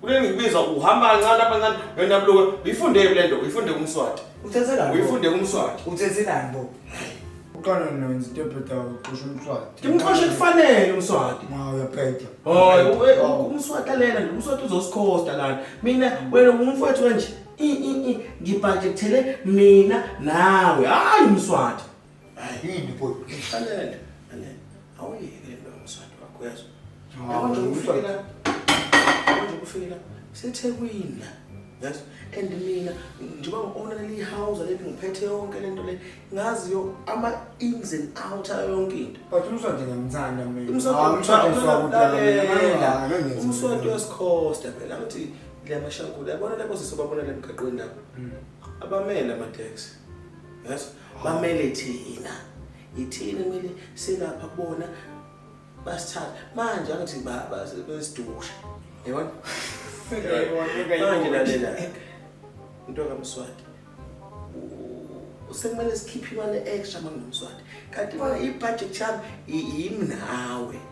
Kulengibizwa uhamba kancane apha kancane wena mluka uyifunde le nto uyifunde kumswati. Uthethe lani? Uyifunde kumswati. Uthethe lani bo? Uqala nonzi tebheda uqosha umswati. Ngimxoshe kufanele umswati. Ma uyabheda. Hayi umswati lena nje umswati uzosikhosta lana. Mina wena ungumfowethu kanje. I i i ngibhajekthele mina nawe. Hayi umswati. Ayini boy. Alele. Alele. Awuyeke into ngomswati wakho uyazwa. Yabo nje ukufikela. Yabo nje ukufikela. SeThekwini la. Yes. And mina njengoba ngiowner le house leli ngiphethe yonke lento le ngazi yo ama ins and out ayo yonke into. But umswati ngiyamthanda mina. Umswati umswati uyasikhosta phela ngithi le mashangula yabona labo sisi babona le mgaqweni lapho. Abamele ama taxi. Yes. bamele thina yithina kumele silapha kubona basithatha manje angithi baba besidusha yabona manje lalela into kamswati sekumele sikhiphe imali extra manginomswati kanti bona ibudget yami yimi nawe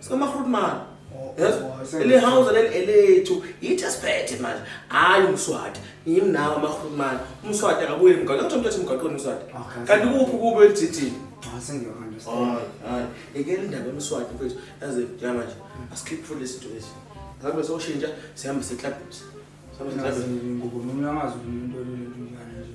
sikamarhutman yes le house leli elethu yithi asiphethe manje hayi umswati yimi nawe amarhutman umswati akabuye mgaqo kuthiwa umthathe emgaqweni umswati kanti kuphi kubo elithithini yekela indaba emswati mfethu yaze yama nje asikhiphe futhi lesi nto lesi ngabe soshintsha sihambe seklabhisa sihambe seklabhisa ngoba umuntu angazi umuntu olulento njani nje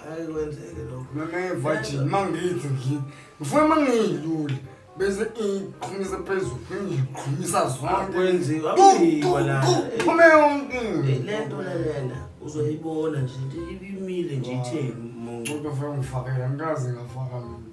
hayi kwenzeke lokho nonevajini uma ngithi ngithi ngifuna uma ngiyilule bese iqhumisa phezulu ngiqhumisa zonkephume yonke le nto lelena uzoyibona nje imile nje itheni muncu kodwa funa ngifakela ngikaze ngafaka mina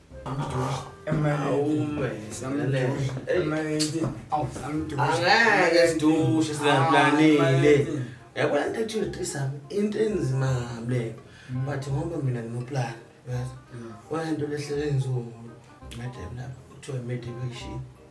angeke sidushe singaplanile yabona into ethi uyotrisam into enzima ngable but ngoba mina nginoplani yazi wena nto lehlele nzulu madam lapho kuthiwa i-medication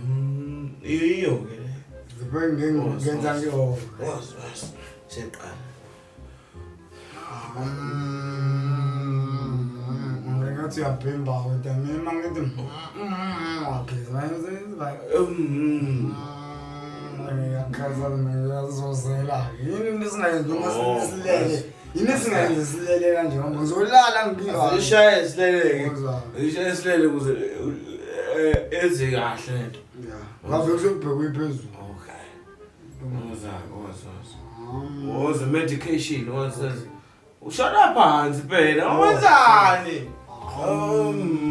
Mm, iyo ke le. Ngibenge ngenza kuyona. Was was. Seqala. Ngathi uyabhimba kodwa mina ngithi ngiyageza ngizenza. Mm. Ngiyakhaza mina yazozela. Yini into esingayenza uma oh, silele. Yini singenze silele kanje ngoba ngizolala ngibika. Zishaye sileleke. Zishaye silele kuze eh, enze kahle lento. Yeah. Ngavele sekubhekwe iphezulu. Okay. Ngoza ngoza. Ngoza medication ngoza. Ushona phansi phela. Wenzani? Um.